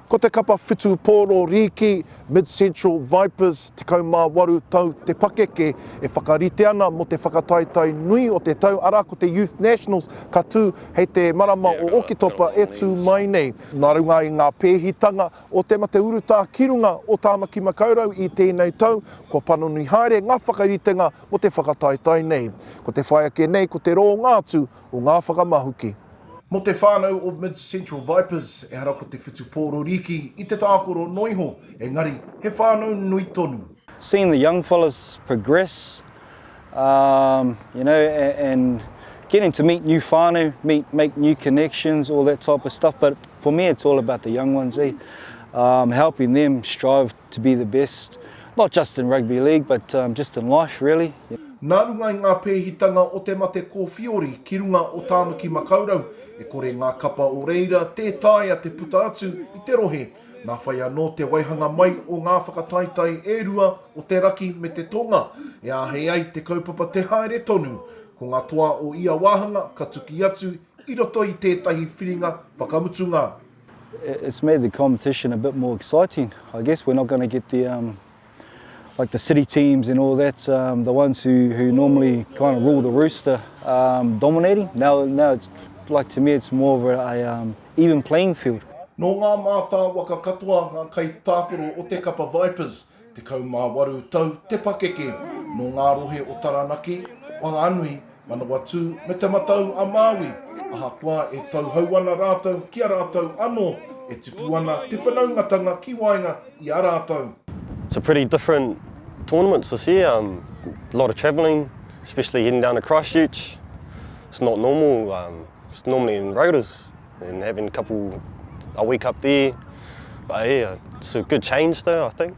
Ko te kapa whitu pōro rīki, Mid-Central Vipers, 18 tau te pakeke e whakarite ana mō te whakataetae nui o te tau, arā, ko te Youth Nationals ka tū hei te marama o Oketopa e tū mai nei. Nā runga i ngā pēhitanga o te mate urutā ki runga o Tāmaki Makaurau i tēnei tau, kua panoni haere ngā whakaritenga mō te whakataetae nei. Ko te whai ake nei ko te rōnga atu o ngā whakamahuki. Mō te whānau o Mid Central Vipers, ehara ko te whutupō rorīki i te tākoro noa iho, engari he whānau nui tonu. Seeing the young fellas progress. Um, you know, and getting to meet new whānau, meet, make new connections, all that type of stuff. But for me, it's all about the young ones, eh? Um, helping them strive to be the best, not just in rugby league, but um, just in life, really. Nā runga i ngā pēhitanga o te mate kōwhiori ki runga o Tāmaki Makaurau, e kore ngā kapa o reira tē taea te puta atu i te rohe Nā whai anō te waihanga mai o ngā whakataetae e rua o te raki me te tonga e āhei ai te kaupapa te haere tonu. Ko ngā toa o ia wāhanga ka tuki atu i roto i tētahi whiringa whakamutunga. It's made the competition a bit more exciting. I guess we're not going to get the like the city teams and all that, um, the ones who, who normally kind of rule the rooster, um, dominating. Now, now it's like to me, it's more of a, a um, even playing field. Nō ngā mātāwaka katoa ngā kaitākaro o te kapa Vipers, tekau mā waru tau te pakeke, nō ngā rohe o Taranaki, Whanganui, Manawatū me Te Matau-a-Māui, ahakoa e tauhou ana rātou ki a rātou anō, e tipu ana te whanaungatanga ki waenga i a rātou. It's a pretty different tournaments this year, um, a lot of travelling, especially heading down to Christchurch, it's not normal, um, it's normally in Rotorua, and having a couple, a week up there, but yeah, it's a good change though I think.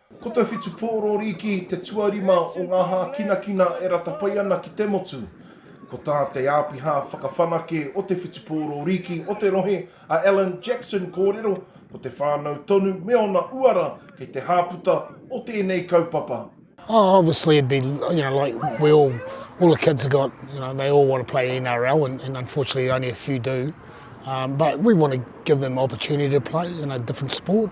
Ko te whitu pōrōri ki te tuarima o ngā hākinakina e rata pai ana ki te motu. Ko tā te āpiha whakawhanake o te whitu pōrōrīki o te rohe, a Alan Jackson kōrero, ko te whānau tonu me ōna uara kei te hāputa o tēnei kaupapa. Oh, obviously it'd be, you know, like we all, all the kids have got, you know, they all want to play NRL and, and unfortunately only a few do. Um, but we want to give them opportunity to play in a different sport.